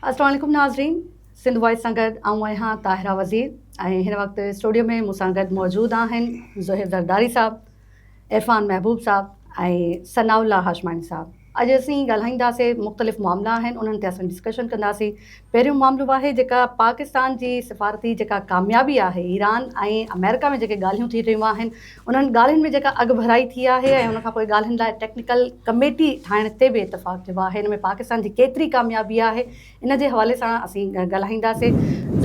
السلام عليڪم ناظرين سنڌ وائس سان گڏ آئون آهيان طاهره وزير ۽ هن وقت اسٽوڊيو ۾ مون سان گڏ موجود آهن زهير زرداري صاحب عرفان محبوب صاحب ۽ ثناء الله هاشماڻي صاحب اڄ اسين ڳالهائينداسين مختلف معاملا آهن انهن تي اسين ڊسڪشن ڪنداسين پهريون معاملو آهي جيڪا پاڪستان جي سفارتي جيڪا ڪاميابي آهي ايران ۽ آمريڪا ۾ جيڪي ڳالهيون ٿي رهيون آهن انهن ڳالهين ۾ جيڪا اڳڀرائي ٿي آهي ۽ ان کان پوء ڳالهين لاء ٽيڪنيڪل ڪميٽي ٺاهڻ تي به اتفاق ٿيو آهي ان ۾ پاڪستان جي ڪيتري ڪاميابي آهي ان جي حوالي سان اسين ڳالهائينداسي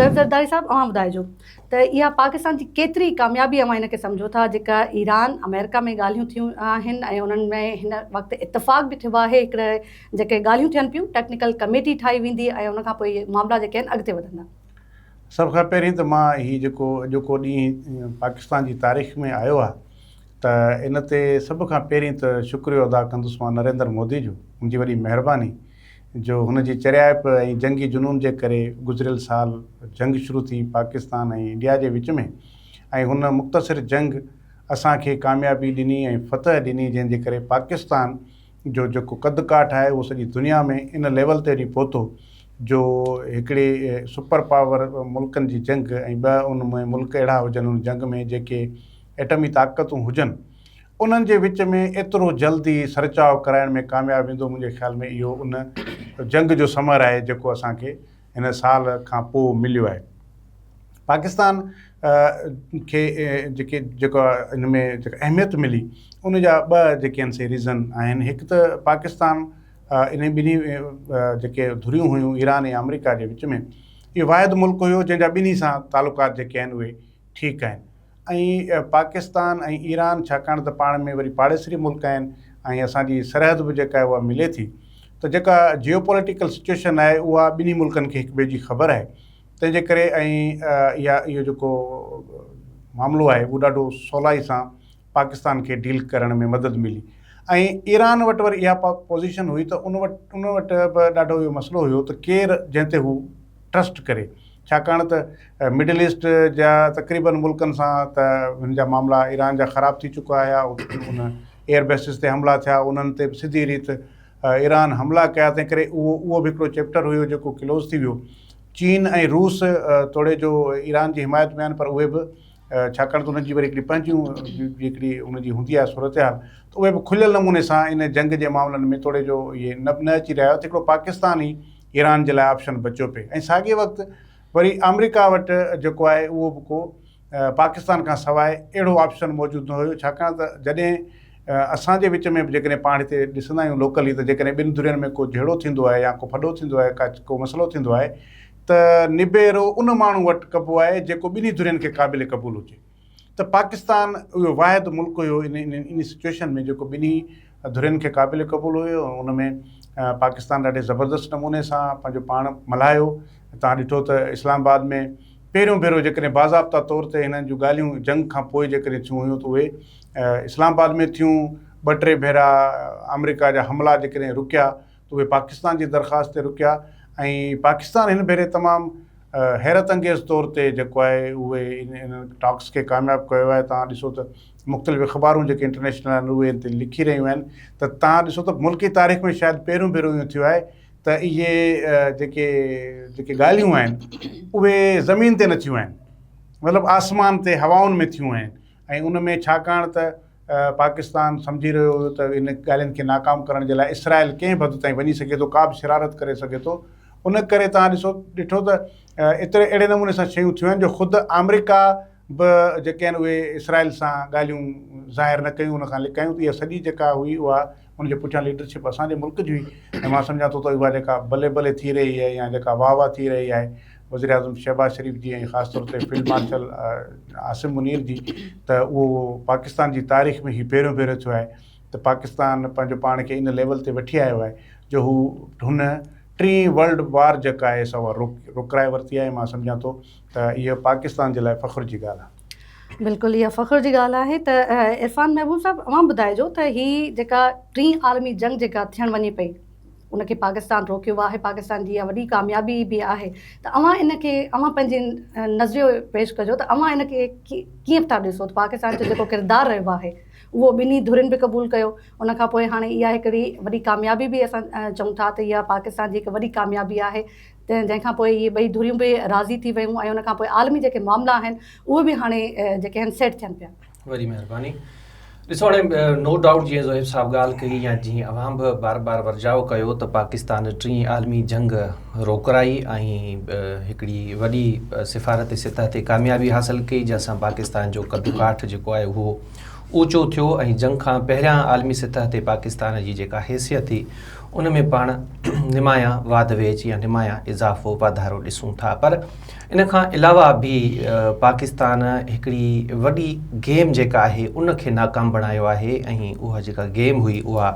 زرف زرداري صاحب اوهان ٻڌائجو ته اها پاڪستان جي ڪيتري ڪاميابي اوهان ان کي سمجهو ٿا جيڪا ايران آمريڪا ۾ ڳالهيون ٿيون آهن ۽ انهن ۾ هن وقت اتفاق به ٿيو آهي هڪڙي جيڪي ڳالهيون ٿين پيون ٽيڪنيڪل ڪميٽي ٺاهي ويندي ۽ ان کان پوء معاملا جيڪي آهن اڳتي وڌندا. سڀ کان پهرين ته مان هي جيڪو اڄوڪو ڏينهن پاڪستان جي تاريخ ۾ آيو آهي ته ان تي سڀ کان پهرين ته شڪريو ادا ڪندس مان نريندر مودي جو ان جي وڏي مهرباني جو هن جي چريائپ ۽ جنگي جنون جي ڪري گذريل سال جنگ شروع ٿي پاڪستان ۽ انڊيا جي وچ ۾ ۽ هن مختصر جنگ اسان کي ڪاميابي ڏني ۽ فتح ڏني جنهن جي ڪري پاڪستان جو جيڪو قد ڪاٺ آهي اهو سڄي دنيا ۾ ان ليول تي وڃي پهتو جو هڪڙي سپر پاور ملڪن جي جنگ ۽ ٻه ان ۾ ملڪ اهڙا هجن ان جنگ ۾ جيڪي ايٽمي طاقتون هجن انهن جي وچ ۾ ايترو جلدي سرچاء ڪرائڻ ۾ ڪامياب ويندو منهنجي خيال ۾ اهو ان جنگ جو ثمر آهي جيڪو اسان کي هن سال کان پوء مليو آهي. پاڪستان کي جيڪي جيڪا ان ۾ جيڪا اهميت ملي ان جا ٻه جيڪي آهن سي ريزن آهن هڪ ته پاڪستان انهي ٻنهي جيڪي ڌريون هيون ايران ۽ آمريڪا جي وچ ۾ اهو واحد ملڪ هيو جنهن جا ٻنهي سان تعلقات جيڪي آهن اهي ٺيڪ آهن. ۽ پاڪستان ۽ ايران ڇاڪاڻ ته پاڻ ۾ وري پاڙيسري ملڪ آهن ۽ اسان جي سرحد به جيڪا آهي اها ملي ٿي ته جيڪا جيو پوليٽيڪل سچوئيشن آهي اها ٻنهي ملڪن کي هڪ ٻئي جي خبر آهي تنهن جي ڪري ۽ اها اهو جيڪو معاملو آهي اهو ڏاڍو سولائي سان پاڪستان کي ڊيل ڪرڻ ۾ مدد ملي ۽ ايران وٽ وري اها پوزيشن هئي ته ان وٽ ان وٽ به ڏاڍو اهو مسئلو هيو ته ڪير جنهن تي هو ٽرسٽ ڪري ڇاڪاڻ ته مڊل ايسٽ جا تقريبن ملڪن سان ته هن جا معاملا ايران جا خراب ٿي چڪا هيا ان ايئر بيسز تي حملا ٿيا انهن تي به سڌي ريت ايران حملا ڪيا تنهن ڪري اهو اهو به هڪڙو چيپٽر هيو جيڪو ڪلوز ٿي ويو چين ۽ روس توڙي جو ايران جي حمايت ۾ آهن پر اهي به ڇاڪاڻ ته انهن جي وري هڪڙي پنهنجيون هڪڙي ان جي هوندي آهي صورتحال ته اهي به کليل نموني سان ان جنگ جي معاملن ۾ توڙي جو اهي نه نه اچي رهيا هيا ته هڪڙو پاڪستان ئي ايران جي لاء آپشن بچيو پئي ۽ ساڳئي وقت وري آمريڪا وٽ جيڪو آهي اهو به ڪو پاڪستان کان سواء اهڙو آپشن موجود نه هيو ڇاڪاڻ ته جڏهن اسان جي وچ ۾ به جيڪڏهن پاڻ هتي ڏسندا آهيون لوڪلي ته جيڪڏهن ٻن ڌرين ۾ ڪو جهيڙو ٿيندو آهي يا ڪو ڦڏو ٿيندو آهي ڪا ڪو مسئلو ٿيندو آهي ته نبيرو ان ماڻهو وٽ ڪبو آهي جيڪو ٻنهي ڌرين کي قابل قبول هجي ته پاڪستان اهو واحد ملڪ هيو ان ان سچويشن ۾ جيڪو ٻنهي ڌرين کي قابل قبول هيو ۽ ان ۾ پاڪستان ڏاڍي زبردست نموني سان پنهنجو پاڻ ملهايو تان ڏٺو ته اسلام آباد ۾ پهريون ڀيرو جيڪڏهن باضابطا طور تي هنن جون ڳالهيون جنگ کان پوء جيڪڏهن ٿيون هيون ته اهي اسلام آباد ۾ ٿيون ٻه ٽي ڀيرا آمريڪا جا حملا جيڪڏهن رڪيا ته اهي پاڪستان جي درخواست تي رڪيا ۽ پاڪستان هن ڀيري تمام حيرت انگيز طور تي جيڪو آهي اهي انهن ٽاڪس کي ڪامياب ڪيو آهي توهان ڏسو ته مختلف اخبارون جيڪي انٽرنيشنل آهن اهي ان تي لکي رهيون آهن ته توهان ڏسو ته ملڪي تاريخ ۾ شايد پهريون ڀيرو اهو ٿيو آهي ته اهي جيڪي جيڪي ڳالهيون آهن اهي زمين تي نه ٿيون آهن مطلب آسمان تي هوائن ۾ ٿيون آهن ۽ ان ۾ ڇاڪاڻ ته پاڪستان سمجهي رهيو هيو ته ان ڳالهين کي ناڪام ڪرڻ جي لاء اسرائيل ڪنهن به حد تائين وڃي سگهي ٿو، ڪا به شرارت ڪري سگهي ٿو. ان ڪري توهان ڏسو ڏٺو ته ايتري اهڙي نموني سان شيون ٿيون آهن جو خود آمريڪا به جيڪي آهن اهي اسرائيل سان ڳالهيون ظاهر نه ڪيون ان کان لڪايون ته اها سڄي جيڪا هئي اها ان جي پٺيان ليڊرشپ اسان جي ملڪ جي هئي ۽ مان سمجهان ٿو ته اها جيڪا بلي بلي ٿي رهي آهي يا جيڪا واهه واهه ٿي رهي آهي وزيراعظم شهباز شريف جي ۽ خاص طور تي فيلڊ مارشل عاصم منير جي ته اهو پاڪستان جي تاريخ ۾ هي پهريون ڀيرو ٿيو آهي ته پاڪستان پنهنجو پاڻ کي ان ليول تي وٺي آيو آهي جو هو هن ٽين ورلڊ وار جيڪا آهي سا اها رڪرائي ورتي آهي مان سمجهان ٿو ته اهو پاڪستان جي لاء فخر جي ڳالهه آهي. بلڪل اها فخر جي ڳالهه آهي ته عرفان محبوب صاحب اوهان ٻڌائجو ته هي جيڪا ٽين عالمي جنگ جيڪا ٿيڻ وڃي پئي ان کي پاڪستان روڪيو آهي پاڪستان جي اها وڏي ڪاميابي به آهي ته اوهان ان کي اوهان پنهنجي نظريو پيش ڪجو ته اوهان ان کي ڪيئن ٿا ڏسو ته پاڪستان جو جيڪو ڪردار رهيو آهي اهو ٻنهي ڌرين به قبول ڪيو ان کان پوء هاڻي اها هڪڙي وڏي ڪاميابي به اسان چئون ٿا ته اها پاڪستان جي هڪ وڏي ڪاميابي آهي جنهن کان پوء اهي ٻئي ڌريون به راضي ٿي ويون ۽ ان کان پوء عالمي جيڪي معاملا آهن اهي به هاڻي جيڪي آهن سيٽ ٿين پيا. وڏي مهرباني. ڏسو هاڻي نو ڊائوٽ جيئن زوهيب صاحب ڳالهه ڪئي يا جيئن اوهان به بار بار ورجاء ڪيو ته پاڪستان ٽين عالمي جنگ روڪرائي ۽ هڪڙي وڏي سفارتي سطح تي ڪاميابي حاصل ڪئي جنهن سان پاڪستان جو قد ڪاٺ جيڪو آهي اهو اوچو ٿيو ۽ جنگ کان پهريان عالمي سطح تي پاڪستان جي جيڪا حيثيت هئي ان ۾ پاڻ نمايان واڌ ويجهه يا نمايان اضافو واڌارو ڏسون ٿا پر ان کان علاوه به پاڪستان هڪڙي وڏي گيم جيڪا آهي ان کي ناڪام بڻايو آهي ۽ اها جيڪا گيم هئي اها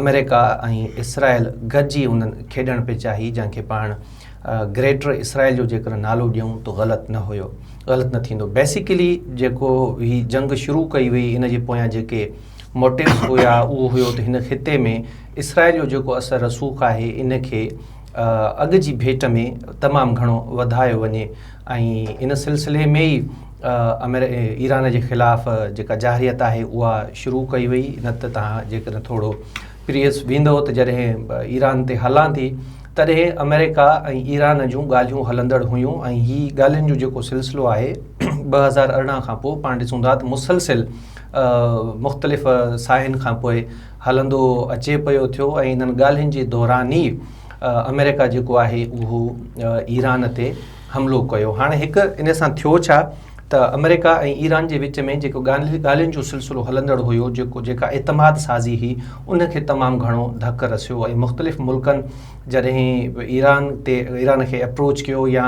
آمريڪا ۽ اسرائيل گڏجي انهن کيڏڻ پئي چاهي جنهن کي پاڻ گريٽر اسرائيل جو جيڪڏهن نالو ڏيون ته غلط نه هيو غلط نه ٿيندو بيسيڪلي جيڪو هي جنگ شروع ڪئي وئي ان جي پويان جيڪي موٽيوز هيا اهو هيو ته هن خطي ۾ اسرائيل جو جيڪو اثر رسوخ آهي ان کي اڳ جي ڀيٽ ۾ تمام گهڻو وڌايو وڃي ۽ ان سلسلي ۾ ئي ايران جي خلاف جيڪا جارحيت آهي اها شروع ڪئي وئي نه ته تان جيڪڏهن ٿورو پريس ويندو ته جڏهن ايران تي هلان ٿي تڏهن آمريڪا ۽ ايران جون ڳالهيون هلندڙ هيون ۽ هي ڳالهين جو جيڪو سلسلو آهي ٻه هزار ارڙهن کان پوء پاڻ ڏسون ٿا ته مسلسل مختلف ساهين کان پوء هلندو اچي پيو ٿيو ۽ انهن ڳالهين جي دوران ئي آمريڪا جيڪو آهي اهو ايران تي حملو ڪيو هاڻي هڪ ان سان ٿيو ڇا ته آمريڪا ۽ ايران جي وچ ۾ جيڪو ڳالهين جو سلسلو هلندڙ هيو جيڪو جيڪا اعتماد سازي هي ان کي تمام گهڻو ڌڪ رسيو ۽ مختلف ملڪن جڏهن ايران تي ايران کي اپروچ ڪيو يا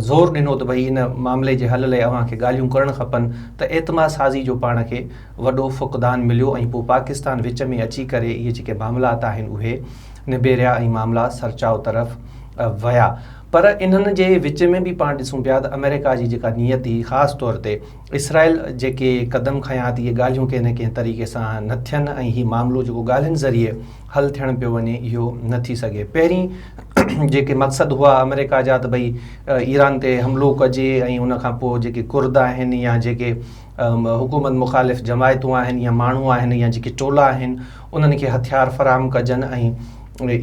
زور ڏنو ته ڀئي ان معاملي جي حل لئي اوهان کي ڳالهيون ڪرڻ کپن ته اعتماد سازي جو پاڻ کي وڏو فقدان مليو ۽ پوء پاڪستان وچ ۾ اچي ڪري اهي جيڪي معاملات آهن اهي نبيريا ۽ معاملا سرچاء طرف ويا پر انهن جي وچ ۾ به پاڻ ڏسون پيا ته آمريڪا جي جيڪا نيت هئي خاص طور تي اسرائيل جيڪي قدم کنيا ته اهي ڳالهيون ڪنهن نه ڪنهن طريقي سان نه ٿين ۽ هي معاملو جيڪو ڳالهين ذريعي حل ٿيڻ پيو وڃي اهو نه ٿي سگهي پهرين جيڪي مقصد هئا آمريڪا جا ته ڀئي ايران تي حملو ڪجي ۽ ان کان پوء جيڪي ڪرد آهن يا جيڪي حڪومت مخالف جماعتون آهن يا ماڻهو آهن يا جيڪي ٽولا آهن انهن کي هٿيار فراهم ڪجن ۽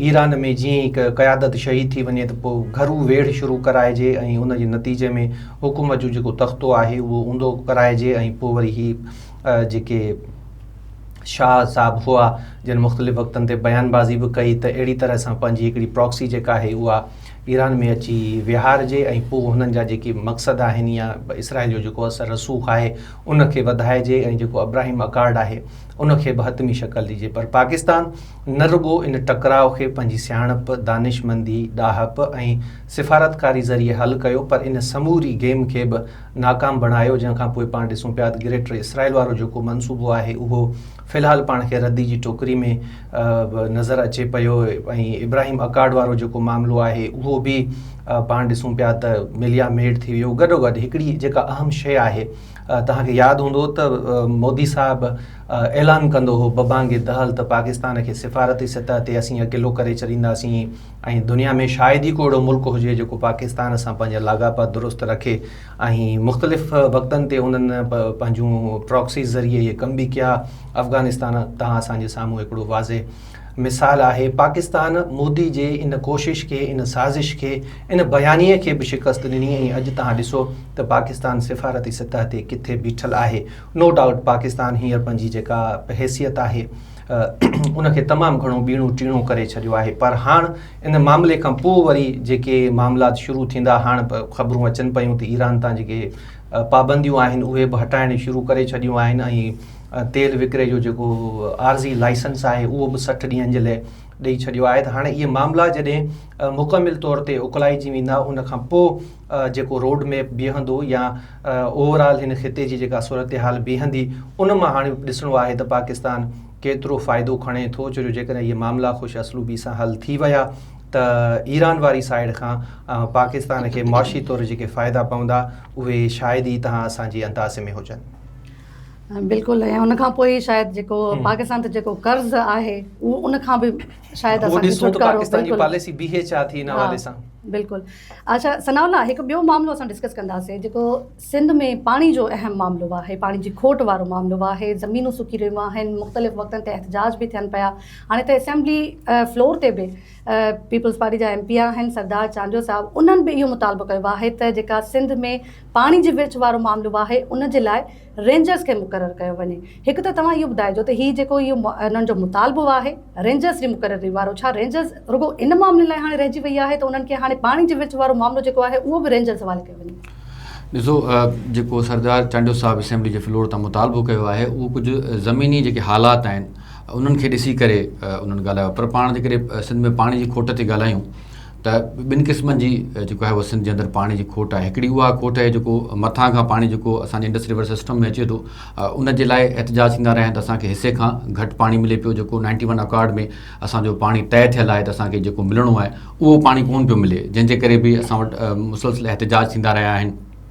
ايران ۾ جيئن هڪ قيادت شهيد ٿي وڃي ته پوء گهرو ويڙهه شروع ڪرائجي ۽ ان جي نتيجي ۾ حڪومت جو جيڪو تختو آهي اهو اوندو ڪرائجي ۽ پوء وري هي جيڪي شاهه صاحب هئا جن مختلف وقتن تي بيان بازي به ڪئي ته اهڙي طرح سان پنهنجي هڪڙي پراڪسي جيڪا آهي اها ايران ۾ اچي ويهارجي ۽ پوء هنن جا جيڪي مقصد آهن يا اسرائيل جو جيڪو اثر رسوخ آهي ان کي وڌائجي ۽ جيڪو ابراهيم اڪارڊ آهي ان کي به حتمي شڪل ڏجي پر پاڪستان نه رڳو ان ٽڪراء کي پنهنجي سياڻپ دانشمندي ڏاهپ ۽ سفارتڪاري ذريعي حل ڪيو پر ان سموري گيم کي به ناڪام بڻايو جنهن کان پوء پاڻ ڏسون پيا ته گريٽر اسرائيل وارو جيڪو منصوبو آهي اهو في الحال پاڻ کي ردي جي ٽوڪري ۾ نظر اچي پيو ۽ ابراهيم اڪارڊ وارو جيڪو معاملو آهي اهو به پاڻ ڏسون پيا ته مليا ميڊ ٿي ويو گڏو گڏ هڪڙي جيڪا اهم شيء آهي توهان کي ياد هوندو ته مودي صاحب اعلان ڪندو هو ببانگ دهل ته پاڪستان کي سفارتي سطح تي اسين اڪيلو ڪري ڇڏينداسين ۽ دنيا ۾ شايد ئي ڪو اهڙو ملڪ هجي جيڪو پاڪستان سان پنهنجا لاڳاپا درست رکي ۽ مختلف وقتن تي انهن پنهنجون پراڪسيز ذريعي اهي ڪم به ڪيا افغانستان تان اسان جي سامهون هڪڙو واضح مثال آهي پاڪستان مودي جي ان ڪوشش کي ان سازش کي ان بيانيي کي به شڪست ڏني ۽ اڄ تهان ڏسو ته پاڪستان سفارتي سطح تي ڪٿي بيٺل آهي نو ڊائوٽ پاڪستان هينئر پنهنجي جيڪا حيثيت آهي ان کي تمام گهڻو ٻيڻو ٽيڻو ڪري ڇڏيو آهي پر هاڻ ان معاملي کان پوء وري جيڪي معاملات شروع ٿيندا هاڻ خبرون اچن پيون ته ايران تان جيڪي پابنديون آهن اهي به هٽائڻ شروع ڪري ڇڏيون آهن ۽ تيل وڪري جو جيڪو عارضي لائسنس آهي اهو به سٺ ڏينهن جي لاء ڏئي ڇڏيو آهي ته هاڻي اهي معاملا جڏهن مڪمل طور تي اڪلائجي ويندا ان کان پوء جيڪو روڊ ميپ بيهندو يا اوور آل هن خطي جي جيڪا صورتحال بيهندي ان مان هاڻي ڏسڻو آهي ته پاڪستان ڪيترو فائدو کڻي ٿو ڇو جو جيڪڏهن اهي معاملا خوش اسلوبي سان حل ٿي ويا ته ايران واري سائيڊ کان پاڪستان کي معاشي طور جيڪي فائدا پوندا اهي شايد ئي تهان اسان جي اندازي ۾ هجن. بلڪل ۽ ان کان پوء شايد جيڪو پاڪستان تي جيڪو قرض آهي ان کان به شايد اسان کي ڇوٽڪارو بلڪل بلڪل اچھا ثناء الله هڪ ٻيو معاملو اسان ڊسڪس ڪنداسين جيڪو سنڌ ۾ پاڻي جو اهم معاملو آهي پاڻي جي کوٽ وارو معاملو آهي زمينون سڪي رهيون آهن مختلف وقتن تي احتجاج به ٿين پيا هاڻي ته اسيمبلي فلور تي به پيپلز پارٽي جا ايم پي آهن سردار چانڊيو صاحب انهن به اهو مطالبو ڪيو آهي ته جيڪا سنڌ ۾ پاڻي جي ورڇ وارو معاملو آهي ان جي لاء رينجرز کي مقرر ڪيو وڃي. هڪ ته توهان اهو ٻڌائجو ته هي جيڪو اهو انهن جو مطالبو آهي رينجرز جي مقرري وارو ڇا رينجرز رڳو ان معاملي لاء هاڻي رهجي وئي آهي ته انهن کي هاڻي پاڻي جي ورڇ وارو معاملو جيڪو آهي اهو به رينجرز حوالي ڪيو وڃي. ڏسو جيڪو سردار چانڊيو صاحب اسيمبلي جي فلور تان مطالبو ڪيو آهي اهو ڪجهه زميني جيڪي حالات آهن انهن کي ڏسي ڪري انهن ڳالهايو پر پاڻ جيڪڏهن سنڌ ۾ پاڻي جي کوٽ تي ڳالهايون ته ٻن قسمن جي جيڪو آهي اهو سنڌ جي اندر پاڻي جي کوٽ آهي هڪڙي اها کوٽ آهي جيڪو مٿان کان پاڻي جيڪو اسان جي انڊس ريور سسٽم ۾ اچي ٿو ان جي لاء احتجاج ٿيندا رهيا آهن ته اسان کي حصي کان گهٽ پاڻي ملي پيو جيڪو نائنٽي ون اڪارڊ ۾ اسان جو پاڻي طئي ٿيل آهي ته اسان کي جيڪو ملڻو آهي اهو پاڻي ڪون پيو ملي جنهن جي ڪري به اسان وٽ مسلسل احتجاج ٿيندا رهيا آهن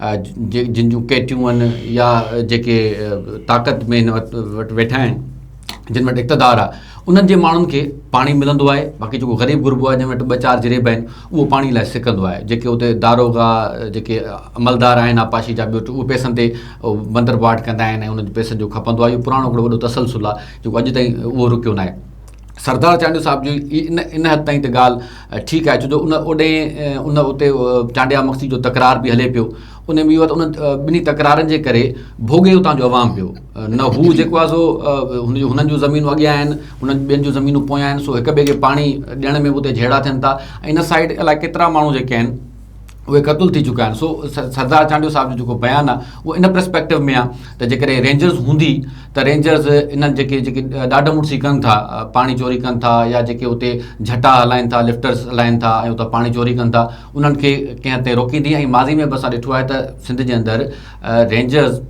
جن جون ڪيٽيون آهن يا جيڪي طاقت ۾ هن وٽ ويٺا آهن جن وٽ اقتدار آ انهن جي ماڻهن کي پاڻي ملندو آهي باقي جيڪو غريب غربو آهي جن وٽ ٻه چار جريب آهن اهو پاڻي لاء سڪندو آهي جيڪي اتي داروغا جيڪي عملدار آهن آبپاشي جا ٻيو اهي پئسن تي بندر باٽ ڪندا آهن ۽ انهن جي پئسن جو کپندو آهي اهو پراڻو هڪڙو وڏو تسلسل آهي جيڪو اڄ تائين اهو رڪيو ناهي سردار چانڊيو صاحب جي ان ان حد تائين ته ڳالهه ٺيڪ آهي ڇو جو ان اوڏي ان اتي چانڊيا مخصي جو تڪرار به هلي پيو ان ۾ اهو ان ٻنهي تڪرارن جي ڪري ڀوڳي اتان جو عوام ويو نه هو جيڪو آهي سو هن جو هنن جون زمينون اڳيان آهن هنن ٻين جون زمينون پويان آهن سو هڪ ٻئي کي پاڻي ڏيڻ ۾ به اتي جهيڙا ٿين ٿا ۽ ان سائيڊ الاء ڪيترا ماڻهو جيڪي آهن اهي قتل ٿي چڪا آهن سو سردار چانڊيو صاحب جو جيڪو بيان آهي اهو ان پرسپيڪٽو ۾ آهي ته جيڪڏهن رينجرز هوندي ته رينجرز انهن جيڪي جيڪي ڏاڍ مڙسي ڪن ٿا پاڻي چوري ڪن ٿا يا جيڪي اتي جھٽا هلائن ٿا لفٽرز هلائن ٿا ۽ اتان پاڻي چوري ڪن ٿا انهن کي ڪنهن هنڌ تي روڪيندي ۽ ماضي ۾ به اسان ڏٺو آهي ته سنڌ جي اندر رينجرز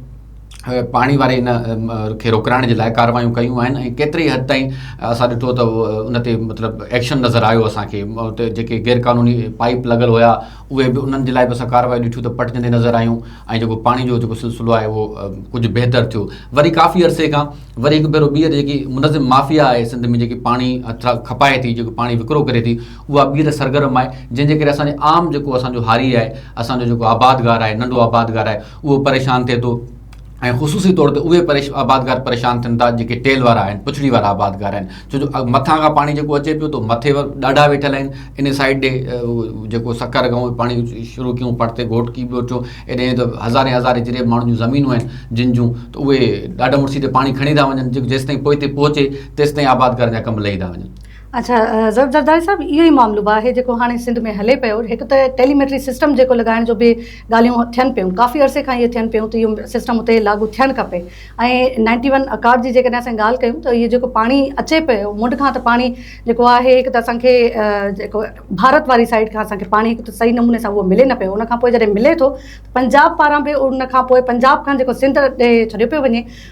پاڻي واري ان کي روڪرائڻ جي لاء ڪارروايون ڪيون آهن ۽ ڪيتري حد تائين اسان ڏٺو ته ان تي مطلب ايڪشن نظر آيو اسان کي اتي جيڪي غير قانوني پائپ لڳل هيا اهي به انهن جي لاء به اسان ڪارروايون ڏٺيون ته پٽجندي نظر آيون ۽ جيڪو پاڻي جو جيڪو سلسلو آهي اهو ڪجهه بهتر ٿيو وري ڪافي عرصي کان وري هڪ ڀيرو ٻيهر جيڪي منظم مافيا آهي سنڌ ۾ جيڪي پاڻي هٿ کپائي ٿي جيڪو پاڻي وڪرو ڪري ٿي اها ٻيهر سرگرم آهي جنهن جي ڪري اسان جي عام جيڪو اسان جو هاري آهي اسان جو جيڪو آبادگار آهي ننڍو آبادگار آهي اهو پريشان ٿئي ٿو ۽ خصوصي طور تي اهي آبادگار پريشان ٿين ٿا جيڪي ٽيل وارا آهن پڇڙي وارا آبادگار آهن ڇو جو مٿان کان پاڻي جيڪو اچي پيو ٿو مٿي ڏاڍا ويٺل آهن ان سائيڊ ڏي جيڪو سکر گئون پاڻي شروع ڪيون پڙتي گهوٽڪي ٻوٽيو ايڏي ته هزارين هزارين جريب ماڻهن جون زمينون آهن جن جون ته اهي ڏاڍا مڙسي تي پاڻي کڻي ٿا وڃن جيڪو جيستائين پوئتي پهچي تيستائين آبادگار جا ڪم لهي ٿا وڃن اڇا زرداري صاحب اهو ئي معاملو به آهي جيڪو هاڻي سنڌ ۾ هلي پيو هڪ ته ٽيلي ميٽري سسٽم جيڪو لڳائڻ جو به ڳالهيون ٿين پيون ڪافي عرصي کان اهي ٿين پيون ته اهو سسٽم اتي لاڳو ٿيڻ کپي ۽ نائنٽي ون اڪاٽ جي جيڪڏهن اسان ڳالهه ڪيون ته اهو جيڪو پاڻي اچي پيو منڊ کان ته پاڻي جيڪو آهي هڪ ته اسان کي جيڪو ڀارت واري سائيڊ کان اسان کي پاڻي هڪ ته صحيح نموني سان اهو ملي نه پيو ان کان پوء جڏهن ملي ٿو پنجاب پاران به ان کان پوء پنجاب کان جيڪو سنڌ ڏي ڇڏيو پيو وڃي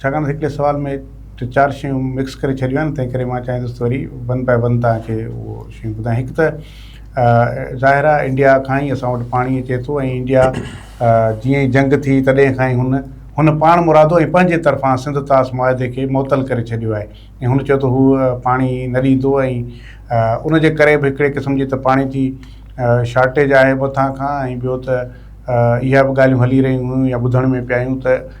ڇاڪاڻ ته هڪڙي سوال ۾ ٽي چار شيون مڪس ڪري ڇڏيون آهن تنهن ڪري مان چاهيندس ته وري ون باء ون توهان کي اهو شيون ٻڌايان هڪ ته ظاهر آهي انڊيا کان ئي اسان وٽ پاڻي اچي ٿو ۽ انڊيا جيئن ئي جنگ ٿي تڏهن کان ئي هن هن پاڻ مرادو ۽ پنهنجي طرفان سنڌ طاس معاهدي کي معطل ڪري ڇڏيو آهي ۽ هن چيو ته هو پاڻي نه ڏيندو ۽ ان جي ڪري به هڪڙي قسم جي ته پاڻي جي شارٽيج آهي مٿان کان ۽ ٻيو ته اها به ڳالهيون هلي رهيون هيون يا ٻڌڻ ۾ پيا آيون ته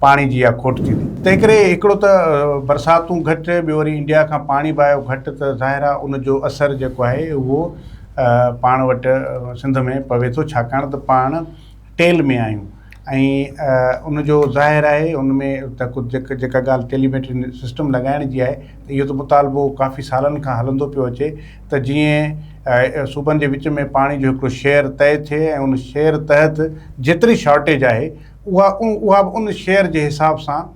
پاڻي جي اها کوٽ ٿيندي. تنهنڪري هڪڙو ته برساتون گهٽ، ٻيو وري انڊيا کان پاڻي به آيو گهٽ ته ظاهر آهي ان جو اثر جيڪو آهي اهو پاڻ وٽ سنڌ ۾ پوي ٿو ڇاڪاڻ ته پاڻ ٽيل ۾ آهيون ۽ ان جو ظاهر آهي ان ۾ ته ڪجهه جيڪا ڳالهه ٽيليميٽري سسٽم لڳائڻ جي آهي ته اهو ته مطالبو ڪافي سالن کان هلندو پيو اچي ته جيئن صوبن جي وچ ۾ پاڻي جو هڪڙو شيئر طئي ٿئي ۽ ان شيئر تحت جيتري شارٽيج آهي اها اها به ان شعر جي حساب سان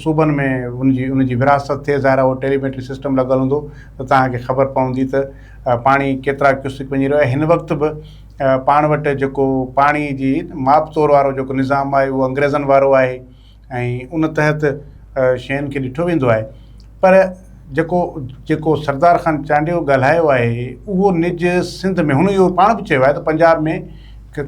صوبن ۾ ان جي ان جي ورهاست ٿئي ظاهر اهو ٽيليميٽري سسٽم لڳل هوندو ته توهان کي خبر پوندي ته پاڻي ڪيترا ڪيوسڪ وڃي رهيو آهي هن وقت به پاڻ وٽ جيڪو پاڻي جي ماپ تور وارو جيڪو نظام آهي اهو انگريزن وارو آهي ۽ ان تحت شين کي ڏٺو ويندو آهي پر جيڪو جيڪو سردار خان چانڊيو ڳالهايو آهي اهو نج سنڌ ۾ هن اهو پاڻ به چيو آهي ته پنجاب ۾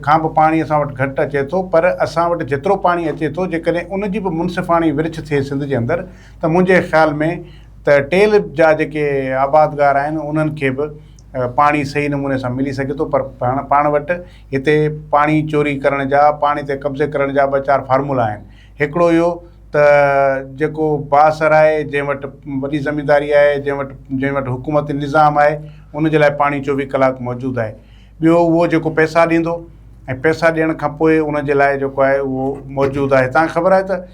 کان به پاڻي اسان وٽ گهٽ اچي ٿو پر اسان وٽ جيترو پاڻي اچي ٿو جيڪڏهن ان جي به منصفاڻي ورڇ ٿئي سنڌ جي اندر ته منهنجي خيال ۾ ته ٽيل جا جيڪي آبادگار آهن انهن کي به پاڻي صحيح نموني سان ملي سگهي ٿو پر پاڻ پاڻ وٽ هتي پاڻي چوري ڪرڻ جا، پاڻي تي قبضي ڪرڻ جا ٻه چار فارمولا آهن. هڪڙو اهو ته جيڪو بااثر آهي، جنهن وٽ وڏي زمينداري آهي، جنهن وٽ جنهن وٽ حڪومتي نظام آهي، ان جي لاء پاڻي چوويهه ڪلاڪ موجود آهي. ٻيو اهو جيڪو پئسا ڏيندو ۽ پئسا ڏيڻ کان پوء ان جي لاء جيڪو آهي اهو موجود آهي. تهان کي خبر آهي ته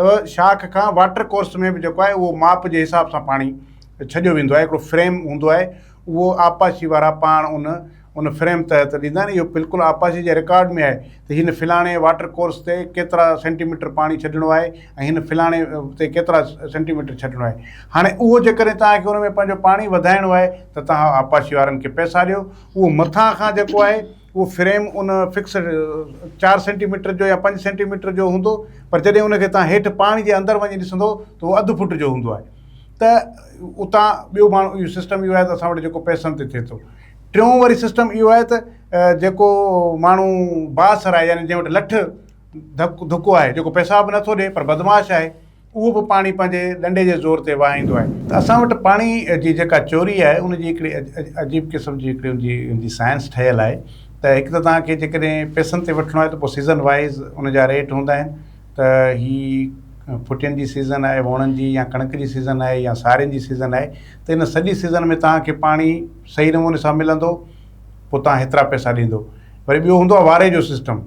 ته شاخ کان واٽر ڪورس ۾ به جيڪو آهي اهو ماپ جي حساب سان پاڻي ڇڏيو ويندو آهي هڪڙو فريم هوندو آهي اهو آبپاشي وارا پاڻ ان ان فريم تحت ڏيندا آهن اهو بلڪل آبپاشي جي رڪارڊ ۾ آهي ته هن فلاڻي واٽر ڪورس تي ڪيترا سينٽي ميٽر پاڻي ڇڏڻو آهي ۽ هن فلاڻي تي ڪيترا سينٽي ميٽر ڇڏڻو آهي هاڻي اهو جيڪڏهن توهان کي ان ۾ پنهنجو پاڻي وڌائڻو آهي ته توهان آبپاشي وارن کي پئسا ڏيو اهو مٿان کان جيڪو آهي اهو فريم ان فڪسڊ چار سينٽي ميٽر جو يا پنج سينٽي ميٽر جو هوندو پر جڏهن ان کي تهان هيٺ پاڻي جي اندر وڃي ڏسندو ته اهو اڌ فوٽ جو هوندو آهي ته اتان ٻيو ماڻهو اهو سسٽم اهو آهي ته اسان وٽ جيڪو پئسن تي ٿئي ٿو ٽيون وري سسٽم اهو آهي ته جيڪو ماڻهو بااثر آهي يعني جنهن وٽ لٺ ڌڪ ڌڪو آهي جيڪو پيسا به نٿو ڏي پر بدماش آهي اهو به پاڻي پنهنجي ڏنڊي جي زور تي وهائيندو آهي. ته اسان وٽ پاڻي جي جيڪا چوري آهي ان جي هڪڙي عجيب قسم جي هڪڙي ان جي ان جي سائنس ٺهيل آهي ته هڪ ته توهان کي جيڪڏهن پئسن تي وٺڻو آهي ته پوء سيزن وائيز ان جا ريٽ هوندا آهن ته هي ڦٽين جي سيزن آهي ووڻن جي يا ڪڻڪ جي سيزن آهي يا سارين جي سيزن آهي ته ان سڄي سيزن ۾ توهان کي پاڻي صحيح نموني سان ملندو پوء توهان هيترا پئسا ڏيندو وري ٻيو هوندو آهي واري جو سسٽم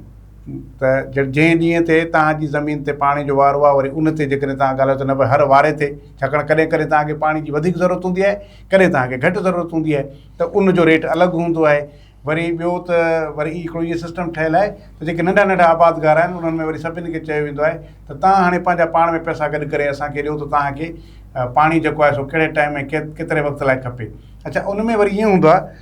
ته جنهن ڏينهن تي توهان جي زمين تي پاڻي جو وارو آهي وري ان تي جيڪڏهن توهان ڳالهايو ته نه پر هر واري تي ڇاڪاڻ ڪڏهن ڪڏهن توهان کي پاڻي جي وڌيڪ ضرورت هوندي آهي ڪڏهن توهان کي گهٽ ضرورت هوندي آهي ته ان جو ريٽ الڳ هوندو آهي وري ٻيو ته وري هي هڪڙو هي سسٽم ٺهيل آهي ته جيڪي ننڍا ننڍا آبادگار آهن انهن ۾ وري سڀني کي چيو ويندو آهي ته توهان هاڻي پنهنجا پاڻ ۾ پئسا گڏ ڪري اسان کي ڏيو ته توهان کي پاڻي جيڪو آهي سو ڪهڙي ٽائيم ۽ ڪيتري وقت لاء کپي اڇا ان ۾ وري ائين هوندو آهي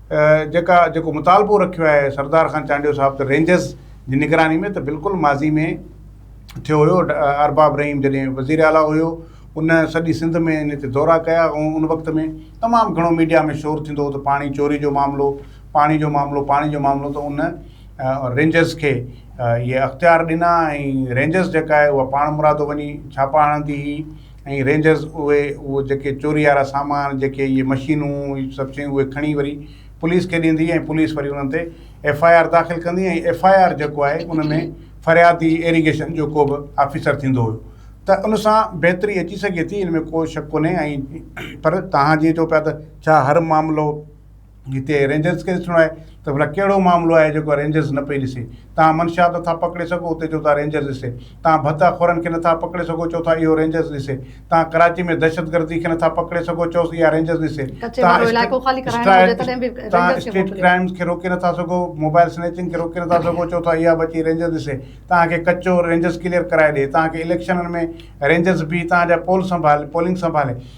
جيڪا جيڪو مطالبو رکيو آهي سردار خان چانڊيو صاحب ته رينجرز جي نگراني ۾ ته بلڪل ماضي ۾ ٿيو هيو ارباب رحيم جڏهن وزير اعليٰ هيو ان سڄي سنڌ ۾ ان تي دورا ڪيا ۽ ان وقت ۾ تمام گهڻو ميڊيا ۾ شور ٿيندو هو ته پاڻي چوري جو معاملو پاڻي جو معاملو پاڻي جو معاملو ته ان رينجرز کي اهي اختيار ڏنا ۽ رينجرز جيڪا آهي اها پاڻ مرادو وڃي ڇاپا هڻندي هئي ۽ رينجرز اهي اهو جيڪي چوري وارا سامان جيڪي اهي مشينون اهي سڀ شيون اهي کڻي وري پوليس کي ڏيندي ۽ پوليس وري انهن تي ايف آء آر داخل ڪندي ۽ ايف آء آر جيڪو آهي ان ۾ فريادي ايريگيشن جو ڪو به آفيسر ٿيندو هيو ته ان سان بهتري اچي سگهي ٿي ان ۾ ڪو شڪ ڪونهي ۽ پر توهان جيئن چئو پيا ته ڇا هر معاملو هتي رينجرز کي ڏسڻو آهي ته ڀلا ڪهڙو معاملو آهي جيڪو رينجرز نه پئي ڏسي. تان منشا ته ٿا پڪڙي سگهو اتي چئو ٿا رينجرز ڏسي. تان ڀت اخورن کي نه ٿا پڪڙي سگهو چئو ٿا اهو رينجرز ڏسي. تان ڪراچي ۾ دهشت گردي کي نه ٿا پڪڙي سگهو چئوس اها رينجرز ڏسي. تان اسٽريٽ ڪرائمز کي روڪي نه ٿا سگهو موبائل سنيچنگ کي روڪي نه ٿا سگهو چئو ٿا اها به اچي رينجرز ڏسي. تان کي ڪچو رينجرز ڪليئر ڪرائي ڏي. تان کي اليڪشنن ۾ رينجرز بيهي تان جا پول سنڀالي پولنگ سنڀالي.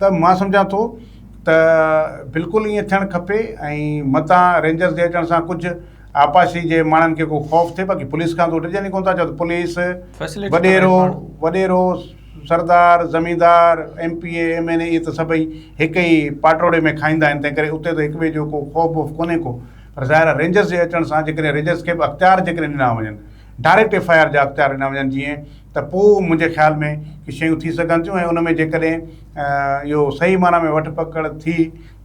ته مان سمجهان ٿو ته بلڪل ائين ٿيڻ کپي ۽ متان رينجرز جي اچڻ سان ڪجهه آبپاشي جي ماڻهن کي ڪو خوف ٿئي باقي پوليس کان ته هو ڊڄن ئي ڪونه ٿا چئو ته پوليس Facility ڪري وڏيرو پاڻ. وڏيرو سردار زميندار M P A M N A اهي ته سڀئي هڪ ئي پاٽوڙي ۾ کائيندا آهن تنهن ڪري اتي ته هڪ ٻئي جو ڪو خوف ووف ڪونهي ڪو پر ظاهر آهي رينجرز جي اچڻ سان جيڪڏهن رينجرز کي به اختيار جيڪڏهن ڏنا وڃن ڊائريڪٽ ايف آء آر جا اختيار ڏنا وڃن جيئن ته پوء منهنجي خيال ۾ ڪي شيون ٿي سگهن ٿيون ۽ ان ۾ جيڪڏهن اهو صحيح معنيٰ ۾ وٺ پڪڙ ٿي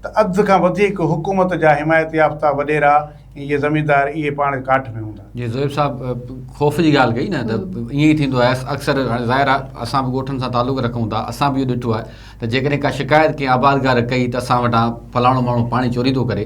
ته اڌ کان وڌيڪ حڪومت جا حمايت يافته وڏيرا ۽ اهي زميندار اهي پاڻ ڪاٺ ۾ هوندا. جيئن زويب صاحب خوف جي ڳالهه ڪئي نه ته ائين ئي ٿيندو آهي اڪثر هاڻي ظاهر آهي اسان به ڳوٺن سان تعلق رکون ٿا اسان به اهو ڏٺو آهي ته جيڪڏهن ڪا شڪايت ڪنهن آبادگار ڪئي ته اسان وٽان فلاڻو ماڻهو پاڻي چوري ٿو ڪري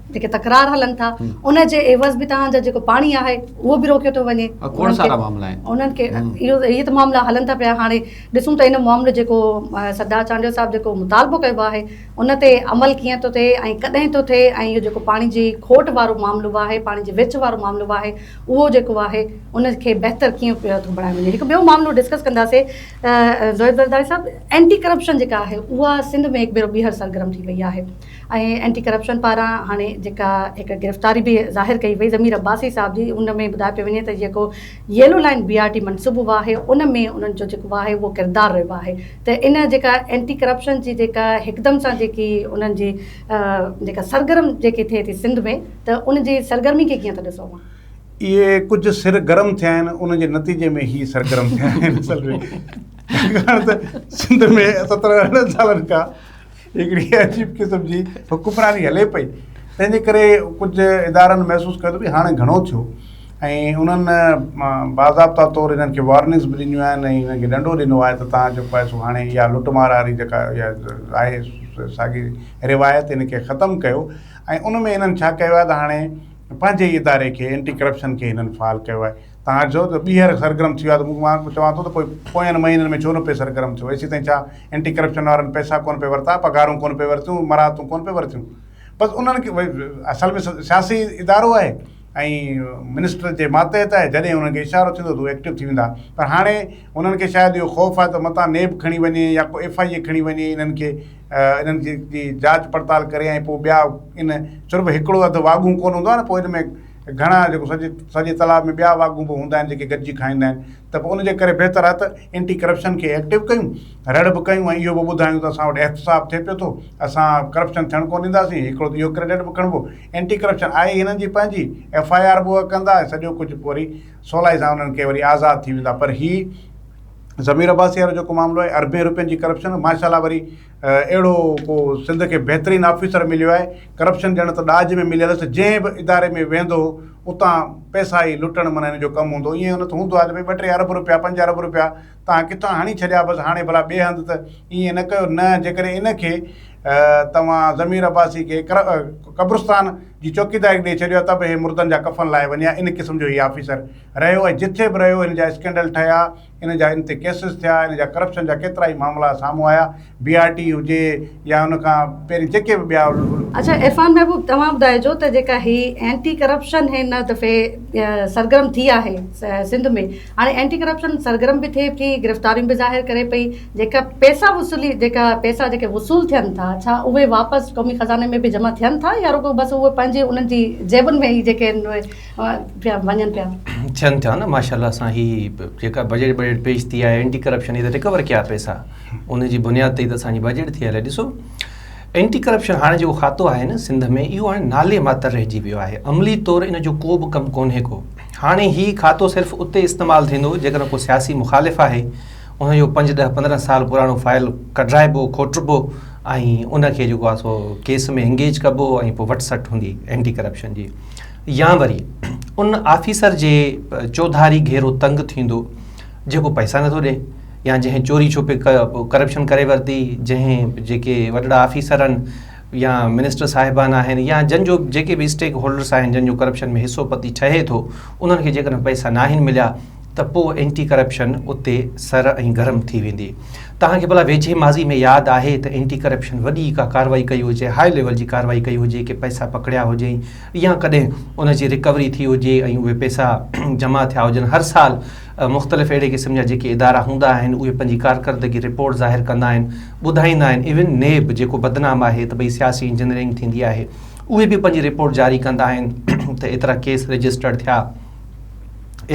جيڪي تڪرار هلن ٿا ان جي عيوض به تهان جو جيڪو پاڻي آهي اهو به روڪيو ٿو وڃي کوڙ سارا معاملا آهن انهن کي اهو هي ته معاملا هلن ٿا پيا هاڻي ڏسون ته ان معاملو جيڪو سردار چانڊيو صاحب جيڪو مطالبو ڪيو آهي ان تي عمل ڪيئن ٿو ٿئي ۽ ڪڏهن ٿو ٿئي ۽ اهو جيڪو پاڻي جي کوٽ وارو معاملو آهي پاڻي جي ويڇ وارو معاملو آهي اهو جيڪو آهي ان کي بهتر ڪيئن پيو ٿو بڻايو وڃي هڪ ٻيو معاملو ڊسڪس ڪنداسي زويد زرداري صاحب اينٽي ڪرپشن جيڪا آهي اها سنڌ ۾ هڪ ڀيرو ٻيهر سرگرم ٿي وئي آهي ۽ اينٽي ڪرپشن پاران هاڻي جيڪا هڪ گرفتاري به ظاهر ڪئي وئي ضمير عباسي صاحب جي ان ۾ ٻڌايو پيو وڃي ته جيڪو yellow line B R T منصوبو آهي ان ۾ انهن جو جيڪو آهي اهو ڪردار رهيو آهي ته ان جيڪا اينٽي ڪرپشن جي جيڪا هڪدم سان جيڪي انهن جي جيڪا سرگرم جيڪي ٿئي ٿي سنڌ ۾ ته ان جي سرگرمي کي ڪيئن ٿا ڏسو اوهان؟ اهي ڪجهه سر گرم ٿيا آهن ان جي نتيجي ۾ هي سرگرم ٿيا آهن اصل ۾ ڇاڪاڻ ته سنڌ ۾ ستر ارڙهن سالن کان هڪڙي عجيب قسم جي حڪمراني هلي پئي تنهن جي ڪري ڪجهه ادارن محسوس ڪيو ته ڀي هاڻي گهڻو ٿيو ۽ انهن باضابطا طور انهن کي وارننگس به ڏنيون آهن ۽ انهن کي ڏنڊو ڏنو آهي ته تهان جيڪو آهي سو هاڻي اها لٽ مار واري جيڪا اها آهي ساڳي روايت ان کي ختم ڪيو ۽ ان ۾ انهن ڇا ڪيو آهي ته هاڻي پنهنجي اداري کي اينٽي ڪرپشن کي هنن فعال ڪيو آهي توهان چئو ته ٻيهر سرگرم ٿي ويو آهي ته مون مان چوان ٿو ته پوء پوين مهينن ۾ ڇو نه پئي سرگرم ٿيو ايسي تائين ڇا اينٽي ڪرپشن وارن پئسا ڪونه پئي ورتا پگهارون ڪونه پئي ورتيون مراعتون ڪونه پئي ورتيون بس انهن کي اصل ۾ سياسي ادارو آهي ۽ منسٽر جي ماتحت آهي جڏهن انهن کي اشارو ٿيندو ته هو ايڪٽو ٿي ويندا پر هاڻي انهن کي شايد اهو خوف آهي ته متان نيب کڻي وڃي يا ڪو ايف آئي اي کڻي وڃي انهن کي انهن جي جاچ پڙتال ڪري ۽ پوء ٻيا ان چرٻ هڪڙو اڌ واڳون ڪونه هوندو آهي نه پوء ان ۾ ته گهڻا جيڪو سڄي سڄي تلاء ۾ ٻيا واڳون به هوندا آهن جيڪي گڏجي کائيندا آهن ته پوء ان جي ڪري بهتر آهي ته اينٽي ڪرپشن کي ايڪٽو ڪيون رڙ به ڪيون ۽ اهو به ٻڌايون ته اسان وٽ احتساب ٿئي پيو ٿو اسان ڪرپشن ٿيڻ ڪونه ڏينداسين هڪڙو ته اهو ڪريڊٽ به کڻبو اينٽي ڪرپشن آهي هنن جي پنهنجي ايف آء آر به اهي ڪندا ۽ سڄو ڪجهه پوء وري سولائي سان انهن کي وري آزاد ٿي ويندا پر هي ضمير عباسي وارو جيڪو معاملو آهي اربين روپين جي ڪرپشن ماشاء الله وري اهڙو ڪو سنڌ کي بهترين آفيسر مليو آهي، ڪرپشن ڄڻ ته ڏاج ۾ مليل هوس، جنهن به اداري ۾ ويهندو هو اتان پئسا ئي لٽڻ معنيٰ هن جو ڪم هوندو هو، ائين نه ته هوندو آهي ته ڀئي ٻه ٽي ارب رپيا پنج ارب رپيا توهان ڪٿان هڻي ڇڏيا بس هاڻي ڀلا ٻئي هنڌ ته ائين نه ڪيو نه جيڪڏهن ان کي توهان ضمير عباسي کي قبرستان جي چوڪيداري ڏئي ڇڏيو آهي ته به هي مردن جا ڪفن لاهي وڃي ها ان قسم جو هي آفيسر رهيو ۽ جٿي به رهيو هن جا اسڪينڊل ٺهيا ان جا ان تي ڪيسز ٿيا، ان جا ڪرپشن جا ڪيترا ئي معاملا سامهون آيا، بي آر ٽي هجي يا ان کان پهرين جيڪي به ٻيا. اڇا عرفان محبوب توهان ٻڌائجو ته جيڪا هي اينٽي ڪرپشن هن دفعي سرگرم ٿي آهي سنڌ ۾ هاڻي اينٽي ڪرپشن سرگرم به ٿئي ٿي گرفتاريون به ظاهر ڪري پئي جيڪا پيسا وصولي جيڪا پيسا جيڪي وصول ٿين ٿا ڇا اهي واپس قومي خزاني ۾ به جمع ٿين ٿا يا رڳو بس اهي پنهنجي انهن جي جيبن ۾ ئي جيڪي پيا وڃن پيا. ٿين ٿا نه ماشاءالله سان هي جيڪا بجيٽ بجيٽ پيش ٿي آهي اينٽي ڪرپشن هي ته رڪور ڪيا پيسا ان جي بنياد تي ته اسان جي بجيٽ ٿي هلي ڏسو اينٽي ڪرپشن هاڻي جيڪو کاتو آهي نه سنڌ ۾ اهو هاڻي نالي ماتر رهجي ويو آهي عملي طور ان جو ڪو به ڪم ڪونهي ڪو هاڻي هي کاتو صرف اتي استعمال ٿيندو جيڪڏهن ڪو سياسي مخالف آهي ان جو پنج ڏهه پندرهن سال پراڻو فائل ڪڍرائبو کوٽبو ۽ ان کي جيڪو آهي سو ڪيس ۾ انگيج ڪبو ۽ پوء وٽ سٽ هوندي اينٽي ڪرپشن جي يا وري ان آفيسر جي چوڌاري گهيرو تنگ ٿيندو جيڪو پئسا نٿو ڏي يا جنهن چوري ڇپي ڪرپشن ڪري ورتي جنهن جيڪي وڏڙا آفيسر آهن يا منسٽر صاحبان آهن يا جن جو جيڪي به اسٽيڪ هولڊرس آهن جن جو ڪرپشن ۾ حصو پتي ٺهي ٿو انهن کي جيڪڏهن پئسا ناهن مليا ته پوء اينٽي ڪرپشن اتي سر ۽ گرم ٿي ويندي توهان کي ڀلا ويجهي ماضي ۾ ياد آهي ته اينٽي ڪرپشن وڏي ڪا ڪارروائي ڪئي هجي هاء ليول جي ڪارروائي ڪئي هجي ڪي پئسا پڪڙيا هجين يا ڪڏهن ان جي رڪوري ٿي هجي ۽ اهي پئسا جمع ٿيا هجن. هر سال مختلف اهڙي قسم جا جيڪي ادارا هوندا آهن اهي پنهنجي ڪارڪردگي رپورٽ ظاهر ڪندا آهن ٻڌائيندا آهن ايون نيب جيڪو بدنام آهي ته ڀئي سياسي انجنيئرنگ ٿيندي آهي اهي به پنهنجي رپورٽ جاري ڪندا آهن ته ايترا ڪيس رجسٽرڊ ٿيا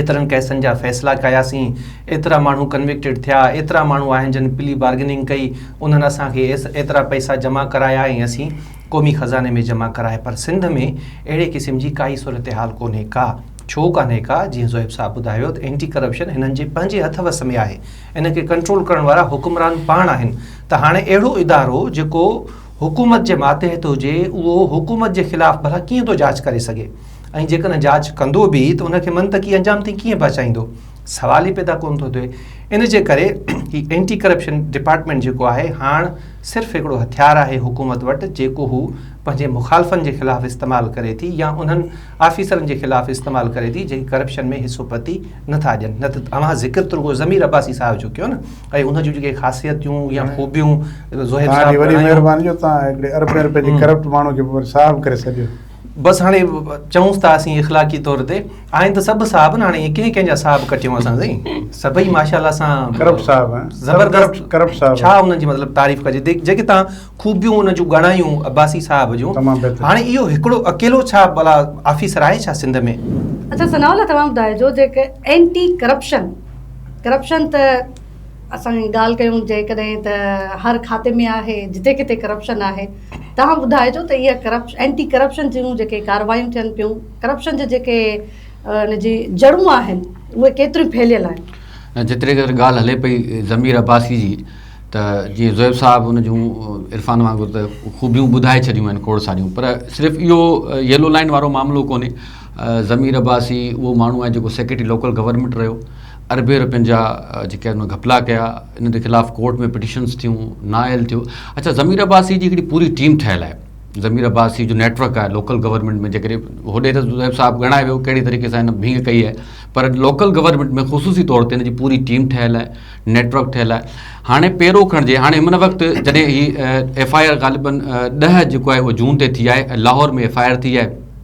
ايترن ڪيسن جا فيصلا ڪياسين ايترا ماڻهو ڪنوڪٽيڊ ٿيا ايترا ماڻهو آهن جن پلي بارگننگ ڪئي انهن اسان کي ايترا پئسا جمع ڪرايا ۽ اسين قومي خزاني ۾ جمع ڪرائي پر سنڌ ۾ اهڙي قسم جي ڪائي صورتحال ڪونهي ڪا ڇو ڪانهي ڪا جيئن زوئب صاحب ٻڌايو ته اينٽي ڪرپشن هنن جي پنهنجي هٿ وس ۾ آهي ان کي ڪنٽرول ڪرڻ وارا حڪمران پاڻ آهن ته هاڻي اهڙو ادارو جيڪو حڪومت جي ماتحت هجي اهو حڪومت جي خلاف ڀلا ڪيئن ٿو جاچ ڪري سگهي ۽ جيڪڏهن جاچ ڪندو به ته ان کي منطقي انجام تائين ڪيئن پهچائيندو سوال ئي پيدا ڪونه ٿو ٿئي ان جي ڪري هي اينٽي ڪرپشن ڊپارٽمينٽ جيڪو آهي هاڻ صرف هڪڙو هٿيار آهي حڪومت وٽ جيڪو هو پنهنجي مخالفن جي خلاف استعمال ڪري ٿي يا انهن آفيسرن جي خلاف استعمال ڪري ٿي جيڪي ڪرپشن ۾ حصو پتي نه ٿا ڏين نه ته اوهان ذڪر ته رڳو ضمير عباسي صاحب جو ڪيو نه ۽ ان جون جيڪي خاصيتيون يا خوبيون زهير صاحب وڏي مهرباني جو توهان هڪڙي اربين رپين جي ڪرپٽ ماڻهو کي صاحب ڪري سڏيو بس هاڻي چئونس ته اسين اخلاقي طور تي آهن ته سڀ صاحب نه هاڻي ڪنهن ڪنهن جا صاحب ڪٽيون اسان سائين سڀئي ماشاءالله سان ڪرپٽ صاحب زبردست ڪرپٽ صاحب ڇا انهن جي مطلب تعريف ڪجي جيڪي تان خوبيون انهن جون ڳڻايون عباسي صاحب جون تمام بهتر هاڻي اهو هڪڙو اڪيلو ڇا بلا آفيسر آهي ڇا سنڌ ۾ اچھا ثناء الله توهان ٻڌائجو جيڪي اينٽي ڪرپشن ڪرپشن ته اسان ڳالهه ڪيون جيڪڏهن ته هر کاتي ۾ آهي جتي ڪٿي ڪرپشن آهي توهان ٻڌائجو ته اها ڪرپشن اينٽي ڪرپشن جون جيڪي ڪارروايون ٿين پيون ڪرپشن جي جيڪي ان جي جڙون آهن اهي ڪيتريون ڦهليل آهن. نه جيتري قدر ڳالهه هلي پئي ضمير عباسي جي ته جيئن زويب صاحب ان جون عرفان وانگر ته خوبيون ٻڌائي ڇڏيون آهن کوڙ ساريون پر صرف اهو يلو لائين وارو معاملو ڪونهي ضمير عباسي اهو ماڻهو آهي جيڪو سيڪريٽري لوڪل گورنمينٽ رهيو اربين رپين جا جيڪي هن گهپلا ڪيا انهن جي خلاف ڪورٽ ۾ پٽيشنس ٿيون نااهل ٿيو اڇا ضمير عباسي جي هڪڙي پوري ٽيم ٺهيل آهي ضمير عباسي جو نيٽ ورڪ آهي لوڪل گورنمنٽ ۾ جيڪڏهن هوڏي ته زيب صاحب ڳڻائي ويو کهڙي طريقي سان هن ڀينگ ڪئي آهي پر لوڪل گورنمنٽ ۾ خصوصي طور تي هن جي پوري ٽيم ٺهيل آهي نيٽ ورڪ ٺهيل آهي هاڻي پيرو کڻجي هاڻي هن وقت جڏهن هي ايف آء آر غالبن ڏهه جيڪو آهي اهو جون تي ٿي آهي لاهور ۾ ايف آء آر ٿي آهي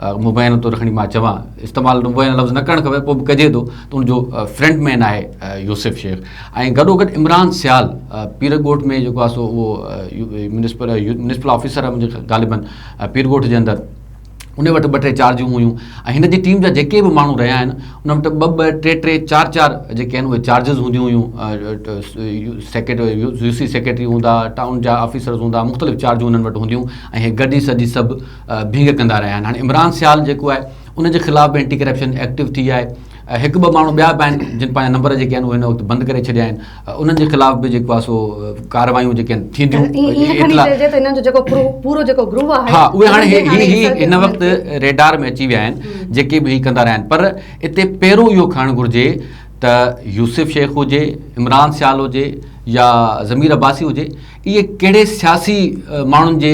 مبينه طور کڻي مان چوان استعمال مبينه لفظ نه ڪرڻ کپي پوء به ڪجي ٿو ته ان جو فرنٽ مين آهي يوسف شيخ ۽ گڏو گڏ عمران سيال پير ڳوٺ ۾ جيڪو آهي سو اهو ميونسپل ميونسپل آفيسر آهي منهنجي غالبن پير ڳوٺ جي اندر ان وٽ ٻه ٽي چارجون هيون ۽ هن جي ٽيم جا جيڪي به ماڻهو رهيا آهن ان وٽ ٻه ٻه ٽي ٽي چار چار جيڪي آهن اهي چارجز هونديون هيون سيڪريٽر يو سي سيڪريٽري هوندا ٽائون جا آفيسرز هوندا مختلف چارجون هنن وٽ هونديون ۽ هي گڏجي سڏجي سڀ ڀينگ ڪندا رهيا آهن هاڻي عمران سيال جيڪو آهي ان جي خلاف به اينٽي ڪرپشن ايڪٽو ٿي آهي هڪ ٻه ماڻهو ٻيا به آهن جن پنهنجا نمبر جيڪي آهن اهي هن وقت بند ڪري ڇڏيا آهن انهن جي خلاف به جيڪو آهي سو ڪارروايون جيڪي آهن ٿينديون ها اهي هاڻي هي هن وقت ريڊار ۾ اچي ويا آهن جيڪي به هي ڪندا رهيا آهن پر اتي پهرو اهو کڻڻ گهرجي ته يوسف شيخ هجي عمران سيال هجي يا ضمير عباسي هجي اهي ڪهڙي سياسي ماڻهن جي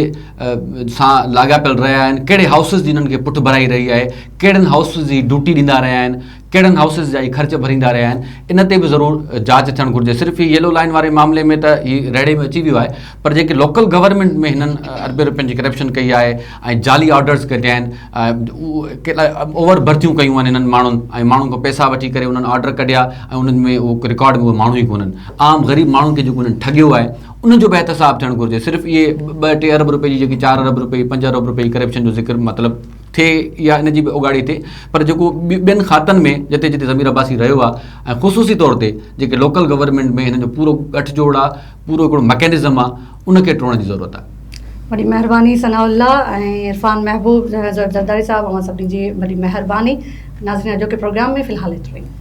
سان لاڳاپيل رهيا آهن، ڪهڙي هائوسز جي انهن کي پٺڀرائي رهي آهي، ڪهڙن هائوسز جي ڊيوٽي ڏيندا رهيا آهن، ڪهڙن هائوسز جا اهي خرچ ڀريندا رهيا آهن، ان تي به ضرور جاچ ٿيڻ گهرجي. صرف هي ييلو لائين واري معاملي ۾ ته هي ريڙهي ۾ اچي ويو آهي پر جيڪي لوڪل گورنمينٽ ۾ هنن اربين رپين جي ڪرپشن ڪئي آهي ۽ جعلي آرڊرز ڪڍيا آهن، اوور برٿيون ڪيون آهن انهن ماڻهن ۽ ماڻهن کان پئسا وٺي ڪري انهن آرڊر ڪڍيا ۽ انهن ۾ اهو رڪارڊ ۾ اهي ماڻهو ئي ڪونهن عام غريب ماڻهن کي جيڪو انهن ٺڳيو آهي ان جو به احتساب ٿيڻ گهرجي صرف اهي ٻه ٽي ارب رپئي جي جيڪي چار ارب رپئي پنج ارب رپئي جي ڪرپشن جو ذڪر مطلب ٿئي يا ان جي به اوڳاڙي ٿئي پر جيڪو ٻين کاتن ۾ جتي جتي ضمير عباسي رهيو آهي ۽ خصوصي طور تي جيڪي لوڪل گورنمينٽ ۾ هن جو پورو ڳٺجوڙ آهي پورو هڪڙو مڪينزم آ ان کي ٽوڙڻ جي ضرورت آ. وڏي مهرباني ثناء الله ۽ عرفان محبوب زرداري صاحب اوهان سڀني جي وڏي مهرباني ناظرين اڄوڪي پروگرام ۾ في الحال ايترو ئي.